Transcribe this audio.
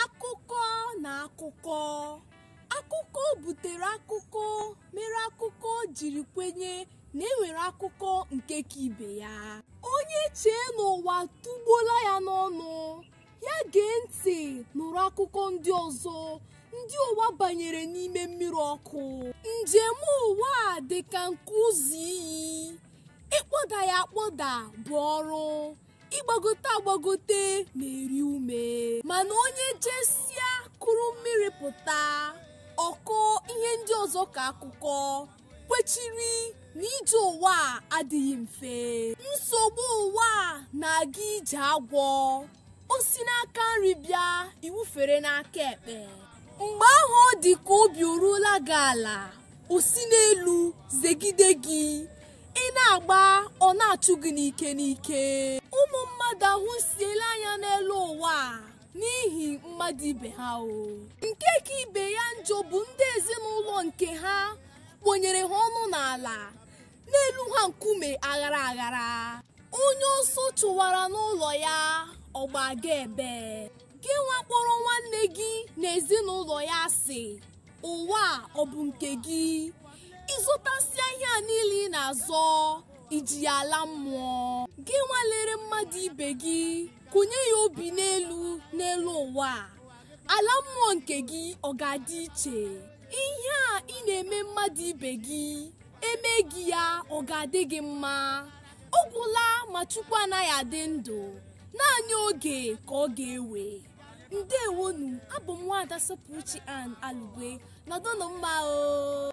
akụkọ na akụkọ akụkọ butere akụkọ mere akụkọ jiri kwenye na enwere akụkọ nke ka ibe ya onye chee n'ụwa tụgbuola ya n'ọnụ ya gee ntị nụrụ akụkọ ndị ọzọ ndị ụwa banyere n'ime mmiri ọkụ njem ụwa a dị ka nke ụzọ iyi ịkpọda ya akpọda bụ ọrụ ịgbagote agbagote na-eri ume mana onye jesịa kuru mmiri pụta ọ kọọ ihe ndị ọzọ ka akụkọ kwechiri na ije ụwa a adịghị mfe nsogbu ụwa a na-aga ije agwọ o si n'aka nri bịa i wufere n'aka ekpe mgbe ahụ ọ dị ka obi o ruola gị ala o si n'elu zegide gị ị na-agba ọ na-achụ gị n'ike n'ike ụmụ mmadụ ahụsiela anya n'elu ụwa a n'ihi mmadụ ibe ha o nke ka ibe ya njọ bụ ndị ezinụlọ nke ha kponyere ha ọnụ n'ala na-elu ha nkume aghara aghara onye ọsọ chụwara n'ụlọ ya ọ gbaga ebee gị nwa kpọrọ nwanne gị na ezinụlọ ya asị ụwa ọ bụ nke gị ị zọtasịa ihe a niile ị na-azọ i ji ya ala mmụọ gị nwa lere mmadụ ibe gị kụnye ya obi n'elu n'elu ụwa a. ala mmụọ nke gị ọ ga-adị iche ihe a ị na-eme mmadụ ibe gị e mee gị ya ọ ga-adị gị mma ọ gwụla ma chukwu anaghị adị ndụ naanị oge ka ọ ga-ewe ndewonu abụ m nwaada sọpụrụchi ann alugwe nọdụnụ mma o